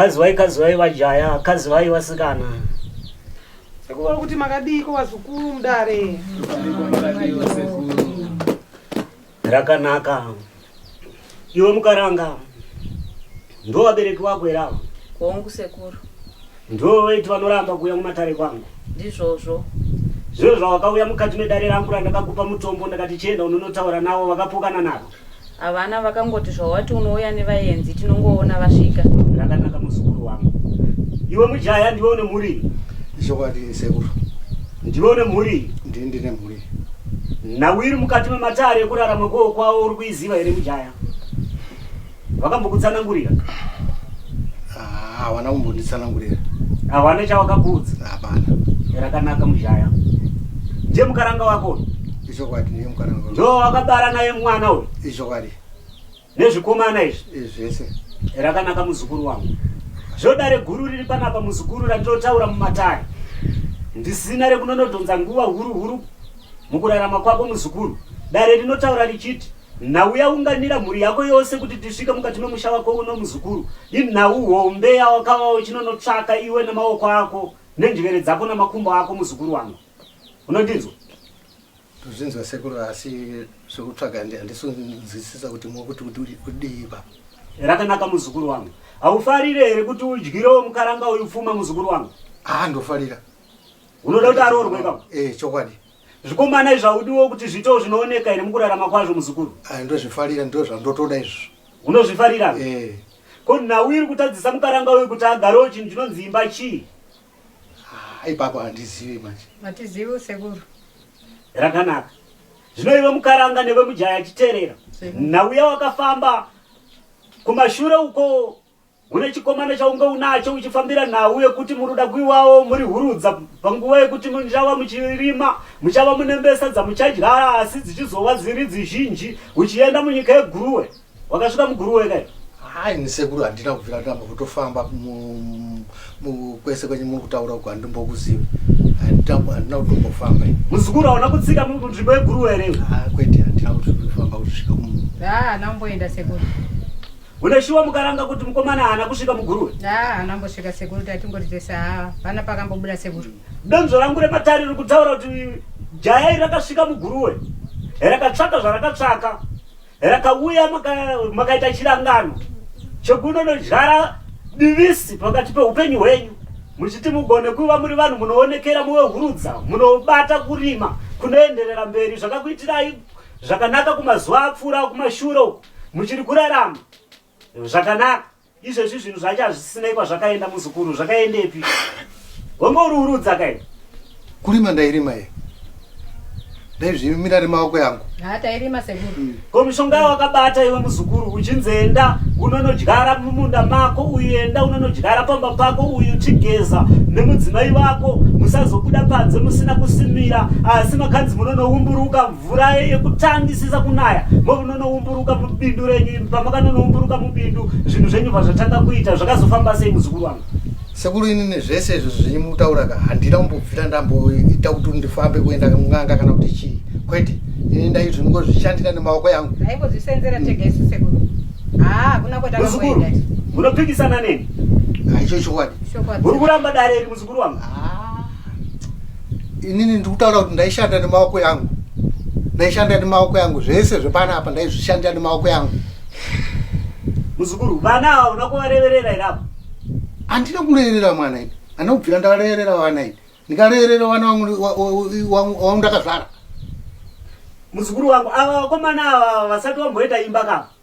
Kazivai kazivai vajaya, kazivai vasikana. Sekuru kuti makadiiko vazukuru mudare. Rakanaka. Iwe mukaranga. Ndo vabereki vako here ava? Hongu sekuru. Ndo vaiti vanoramba kuuya mumatare kwangu. Ndizvozvo. Zvino zvawakauya mukati medare rangu randakakupa mutombo ndakati chienda unonotaura navo vakapokana navo. Havana vakangoti zvawati unouya nevayenzi tinongoona vasvika. Zvakanaka muzukuru wangu. Iwe mujaya ndiwe une mhuri? Zvokwadi sekuru. Ndiwe une mhuri? Ndini ndine mhuri. Nhau iri mukati mematare ekurarama kwowo kwawo uri kuiziva here mujaya? Vakambokutsanangurira? Ah, hawana kumbonditsanangurira. Hawana chawakakuudza? Hapana. Rakanaka mujaya. Ndiye mukaranga wako? ichokwadi ndiye mukana wako ndo wakabara naye mwana uyu ichokwadi nezvikomana izvi izvi zvese rakanaka muzukuru wangu zvodare guru riri panapa muzukuru randinotaura mumatare ndisina rekunonodhonza nguva huru huru mukurarama kwako muzukuru dare rinotaura richiti nhau yaunganira mhuri yako yose kuti tisvike mukati memusha wako uno muzukuru inhau hombe yawakava uchinonotsvaka iwe nemaoko ako nenjere dzako namakumbo ako muzukuru wangu unondinzwa tozvinzwa sekuru asi zvekutsvaga handisinzwisisa kuti mokuti kudii baba rakanaka muzukuru wangu haufarire here kuti udyirewo mukaranga uyu pfuma muzukuru wangu haa ndofarira unoda kuti aroorwe baba e eh, chokwadi zvikomana izvaudiwo kuti zviitewo zvinooneka here mukurarama kwazvo muzukuru ah, ndozvifarira ndo zvandotoda izvo unozvifarira e eh. ko nhau iri kutadzisa mukaranga uyu kuti agarewo chinhu chinonzi imba chii ipapo handizivi manje hatizivi usekuru rakanaka zvino iwe mukaranga newe mujaya achiterera nauya wakafamba kumashure uko une chikomana chaunge unacho uchifambira nhau yekuti muri kuda kuiwawo muri hurudza panguva yekuti muchava muchirima muchava munembesa dzamuchadya asi dzichizova dziri dzizhinji uchienda munyika yeguruwe Wakasvika muguru weka iwe. Hai ni sekuru handina kubvira ndamba kutofamba mu- mu- kwese kwenye muri kutaura uko handimbokuzivi. Handina handina kutombofamba. ini. Muzukuru hauna kutsika mu- munzvimbo yeguru were iwe. Ah, Kwete handina kutofamba kusvika mu- Haa namboenda sekuru. Une shuwa mukaranga kuti mukomana haana kusvika muguru we. Haa anambosvika sekuru tatingoti tese haa pana pakambobuda sekuru. Donzvo rangu rematare riri kutaura kuti jaya iri rakasvika muguru we. Rakatsvaka zvarakatsvaka. rakauya makaita chirangano chekunonodyara divisi pakati peupenyu hwenyu muchiti mugone kuva muri vanhu munoonekera muve hurudza munobata kurima kunoenderera mberi zvakakuitirai zvakanaka kumazuva apfuura kumashure muchiri kurarama zvakanaka Izvezvi zvinhu zvacho hazvisinei kwazvakaenda muzukuru zvakaendepi? Wanga uri urudza kai? Kurima ndairima ye. Ndaizvimira remaoko yangu. Ha tairima sekuru. Hmm. Ko mishonga wakabata iwe muzukuru uchinzenda unonodyara mumunda mako uenda unonodyara pamba pako uyu chigeza nemudzimai vako musazobuda panze musina kusimira asi makanzi munonowumburuka mvura yekutangisisa kunaya movunonoumburuka mubindu renyu pamakanonoumburuka mubindu zvinhu zvenyu vazvatanga kuita zvakazofanba sei muzukuru wangu sekuru ini nezvese izvo zvenyu mutaura ka handina kumbobvira ndamboita kuti ndifambe kuenda n'anga kana kuti chii kwete ini ndaizvo ndingozvishandira nemaoko yangu aingozvisenzera tega isu sekuru haa kuna kwetakamboenda munopikisana neni aicho chokwadi uri kuramba dare iri Mukuru wangu. Ah. Inini ndikutaura kuti ndaishanda nemaoko yangu. Ndaishanda nemaoko yangu zvese zvepana apa ndaizvishanda nemaoko yangu. Muzukuru, vana ava unoda kuvareverera here apa? Handina kureverera mwana ini. Handina kubvira ndakareverera vana ini. Ndikareverera vana wangu ndakazvara. Muzukuru wangu ava vakomana ava vasati vamboita imba kava.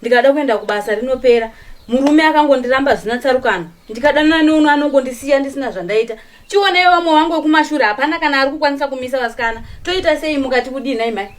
ndikada kuenda kubasa rinopera murume akangondiramba zvina tsarukano ndikadanana neuno anongondisiya ndisina zvandaita chioneyo vamwe vangu wekumashure hapana kana ari kukwanisa kumisa vasikana toita sei mukati kudii nhai mhai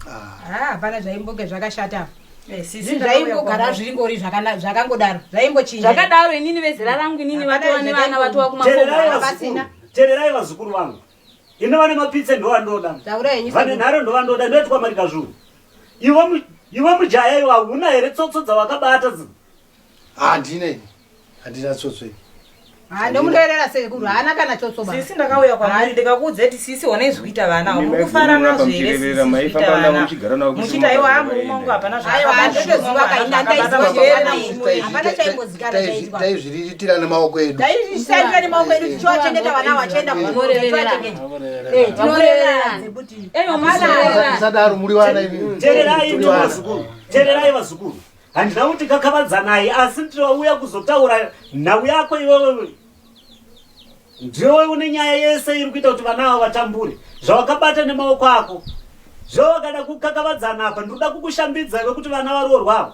ah. ah, hapana zvaimboge zvakashata eh, zvaimbogara zviringori zvakangodaro zvaimbochinja zvakadaro inini vezera rangu inini vatova nevana vatova kumatererai vazukuru vangu ino vane mapitse ndovandoda vane nharo ndovandoda ndoitwa marika zvuu iwe mujaya iwe hauna here tsotso dzawakabata zi handina ini handina tsotso ini ndomunoerera sekuru haana kana tsotsobasisi ndakauya kwamari ndikakuudza kuti sisi one zvikuita vana mukufara nazvo heremuchita iwo amurume wangu hapana zvaaiwa ndotoziva kainandaizivaaaimbozikana chaitwa tira nemaoko edu taishandira nemaoko edu tichiwachengeta vana vachienda kuoaadaro muri vana tererai vazukuru handina kuti kakavadzanai asi tirauya kuzotaura nhau yako iwewe ndiwe une nyaya yese iri kuita kuti vana avo vatambure zvawakabata nemaoko ako zvawakada kukakavadzana apa ndinoda kukushambidza iwe kuti vana varoorwavo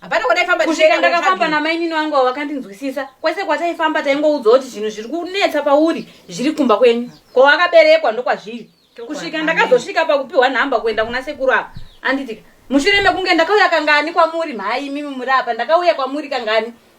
hapana kwataifamba kusvika ndakafamba namainini vangu avo vakandinzwisisa kwese kwataifamba taingoudzwa kuti zvinhu zviri kunetsa pauri zviri kumba kwenyu kwawakaberekwa ndokwazviri kusvika ndakazosvika pakupiwa nhamba kuenda kuna sekuru apa anditi mushure mekunge ndakauya kangani kwamuri mhai imimi muri apa ndakauya kwamuri kangani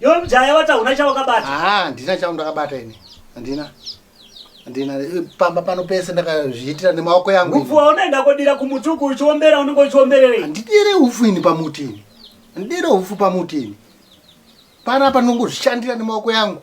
Yo mjaya wata una chawakabata? Ah, ndina chawo ndakabata ini. Andina. Andina eh, pamba pano pese ndakazviitira nemaoko yangu. Ufu unaenda kodira kumutuku uchiombera unenge uchiombererei? Andidire ufu ini pamuti ini. Andidire ufu pamuti ini. Pana panongozvishandira nemaoko yangu.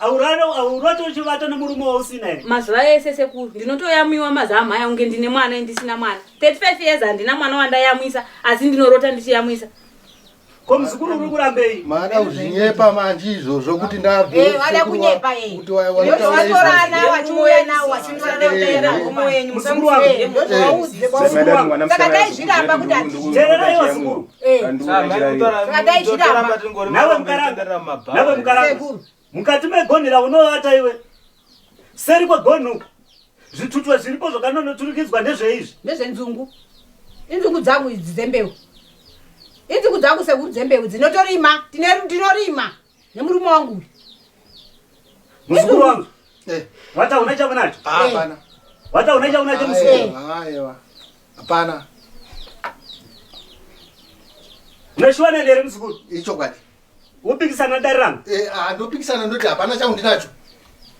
aurate uchivata nemurume wausina here mazuva ese sekuru ndinotoyamwiwa mazamhaya kunge ndine mwana endisina mwana 35 years handina mwana wandayamwisa asi ndinorota ndichiyamwisa ko muzukuru uri kurambei maada kuzvinyepa manje izvozvo kuti ndabvteereraivasukuru mukati megonhera unovata iwe seri kwegonhu zvitutwa zviripo zvakanonoturikidzwa ndezveizvi ndezvenzungu inzungu dzangu idzi dzembeu inzungu dzangu sekuru dzembeu dzinotorima tinorima nemurume wangu uyu muzukuru wangu eh. wataona chaunacho ah, hapana wataona chaunacho muzukuru aiwa hapana uneshuwa nende here muzukuru ichokwadi wopikisana dare rangu eh, ah, ndopikisana ndoti hapana chaundinacho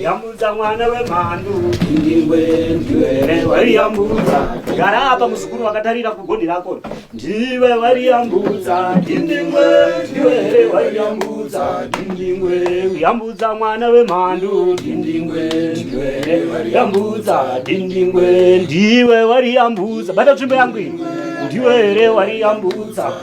yambudza mwana wemhandu waiyambudza gara apa muzukuru vakatarira kugoni rako ndiwe waiyambudza dindingwe ndiwe here waiyambudza dindingwe yambudza mwana wemhandu dindingwe ndiwe waiyambudza dindingwe ndiwe waiyambudza bata tsvimbo yangu ndiwe here waiyambudza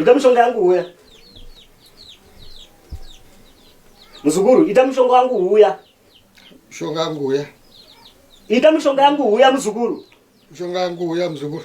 ita mushonga yangu huya muzukuru ita mushonga wangu huya mushonga yangu huya ita mushonga yangu huya muzukuru mushonga yangu huya muzukuru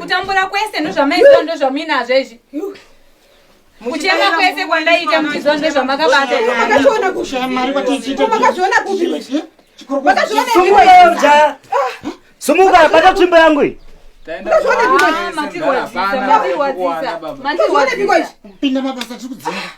kutambura kwese ndozvamaiziva ndozvamuinazvo izvi kuchema kwese kwandaita muchiziva ndozvamakabataakaona sumuka bata tsvimbo yangu iyi matirwadzisa matirwadzisa matirwadzisa pinda mabasa tiri kudzima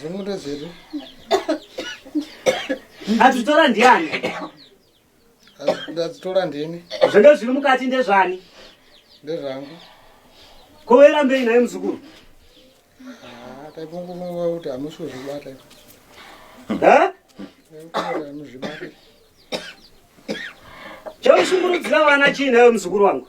Zvingudo zvedu. Adzitora ndiani? Adzitora ndini. Zvendo zviri mukati ndezvani? Ndezvangu. Kovera mbei naye muzukuru. Ah, taikunguva kuti hamusi kuzvibata. Ha? Chaushungurudzira vana chii nayo muzukuru wangu?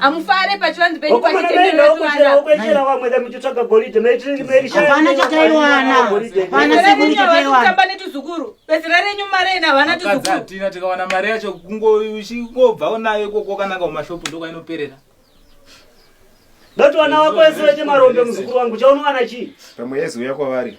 amufare pachivanzi penyu pacheteeokuchera vamwe da muchitsvaga goridhe meriapana chataiwana pana sekuru chataiwanatamba netuzukuru bezera renyu mare ina havana tuzukuruatina tikawana mari yacho kungobvawo nayo ikoko kananga kumashopu ndokwainoperera dati vana vako vese vechemarombe muzukuru wangu chaunowana chii pamwe yeziuya kwavari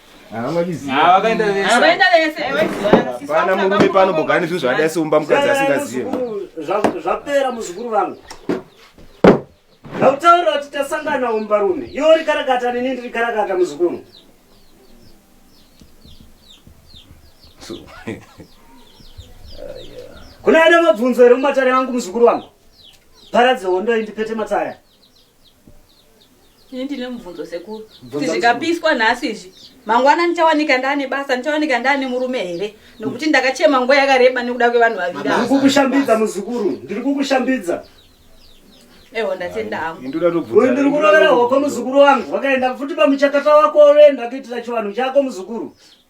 vakaenda vese hapana murume pano bogara nezvinhu zvakadai seumba mukadzi asingazive zvapera muzukuru vangu hautaura kuti tasangana umba rume iwo rikarakata nini ndiri karakata muzukuru kuna ada mabvunzo here mumatare vangu muzukuru vangu paradze hondo indipete mataya ini ndine mubvunzo sekuru kuti zvikapiswa nhasi izvi mangwana ndichawanika ndaane basa ndichawanika ndaane murume here nokuti ndakachema nguva yakareba nekuda kwevanhu vaviri ndiri kukushambidza muzukuru ndiri kukushambidza eho ndatenda hangu uyu ndiri kurovera hoko muzukuru wangu wakaenda futi pamuchakata wako oenda kuitira chivanhu chako muzukuru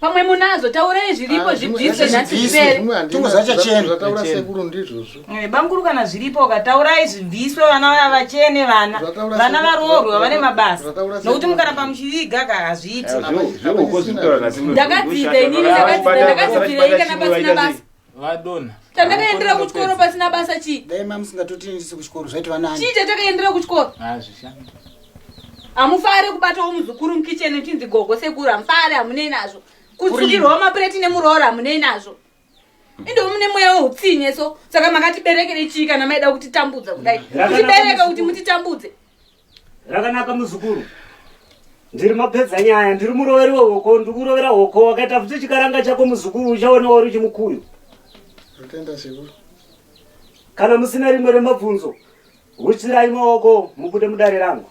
pamwe munazo taurai zviripo ah, zvibviswe nhasi zvipere tozachachenzvataura sekuru ndizvozvo eh, bamkuru kana zviripo ka taurai zvibviswe vana vaya vachene vana vana varoorwa vane mabasa nokuti mukaramba muchiviga ka hazviiti ndakadzidza inini ndakadzidza ndakadzidza ikana pasina basa vadona chandakaendera kuchikoro pasina basa chii dai mamusingatotiendisi kuchikoro zvaitova nani chii chatakaendera kuchikoro hazvishandi hamufare kubatawo muzukuru mukitchen uchinzi gogo sekuru hamufare hamunei nazvo kutsukirwawo mapureti nemuroora hamunei nazvo indovo mune mweya weutsinye so saka makatiberekere chii kana maida kutitambudza kudai kutibereka kuti mutitambudze Rakanaka muzukuru. Ndiri mapedza nyaya, ndiri muroveri wehoko, ndiri kurovera hoko, wakaita futi chikaranga chako muzukuru uchaona wari chimukuyu. Atenda sekuru. Kana musina rimwe remabvunzo, huchirai maoko mubude mudare rangu.